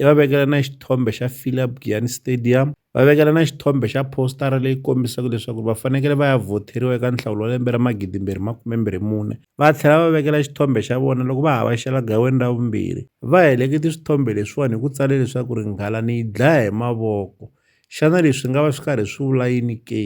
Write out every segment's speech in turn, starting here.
i va vekela na xithombe xa philip giyani stadium va vekela na xithombe xa postara leyi kombisaka leswaku va fanekele va ya vhotheriwa eka nhlawulo wa lembe ra magidimbirhi makumembirhi mune va tlhela va vekela xithombe xa vona loko va havaxela gaweni ra vumbirhi va helekete swithombe leswiwani hi ku tsale leswaku ringhala ni yi dlaya hi mavoko xana leswi nga va swi karhi swi vula yini ke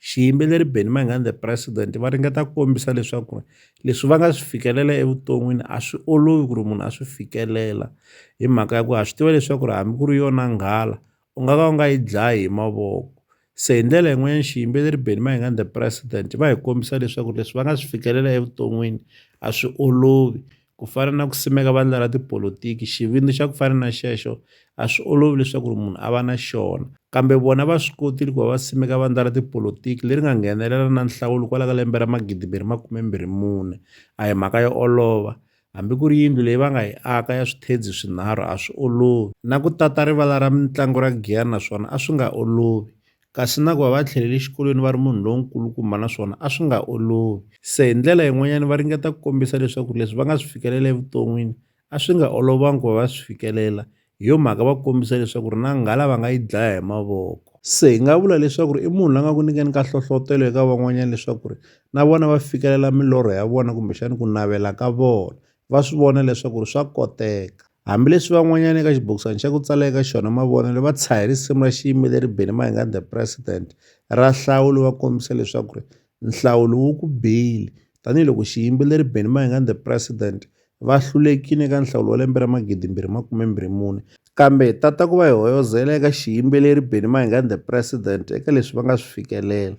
Xiyimbeleri Benny Mayengani the President va ringeta ku kombisa leswaku ri leswi va nga swi fikelela evuton'wini a swi olovi ku ri munhu a swi fikelela hi mhaka ya ku ha swi tiva leswaku ri hambi ku ri yona nghala u nga ka u nga yi dlayi hi mavoko se hi ndlela yin'wanyana xiyimbeleri Benny Mayengani the President va hi kombisa leswaku leswi va nga swi fikelela evuton'wini a swi olovi Ku fana na ku simeka vandla ra tipolitiki, xivindzi xa ku fana na xexo a swi olovi leswaku ri munhu a va na xona. Kambe vona va swi kotile ku va va simeka vandla ra tipolitiki leri nga nghenelela na nhlawulo kwala ka lembe ra 2024. A hi mhaka yo olova. Hambi ku ri yindlu leyi va nga yi aka ya swithedzi swinharhu a swi olovi. Na ku tata rivala ra mitlangu ra Giyani na swona a swi nga olovi. kasi na ku va va tlhelele xikolweni va ri munhu lonkulukumba naswona a swi nga olovi se hi ndlela yin'wanyana va ringeta ku kombisa leswaku leswi va nga swi fikelela evuton'wini a swi nga olovanga ku va va swi fikelela hi yo mhaka va kombisa leswaku ri na nghala va nga yi dlaya hi mavoko se hi nga vula leswaku ri i munhu la nga ku nyikeni ka hlohlotelo eka van'wanyana leswaku ri na vona va fikelela milorho ya vona kumbexani ku navela ka vona va swi vona leswaku swa koteka. Hambileswi van'wanyana eka xibokisana xa ku tsala eka xona mavonelo va tshahe risimu ra xiyimbeleri Benny Mayengani The President ra Nhlawulo va kombisa leswaku ri nhlawulo wu ku bile tanihiloko xiyimbeleri Benny Mayengani The President va hlulekile eka nhlawulo wa lembe ra magidi mbirhi makume mbirhi mune kambe tata ku va hi hoyozela eka xiyimbeleri Benny Mayengani The President eka leswi va nga swi fikelela.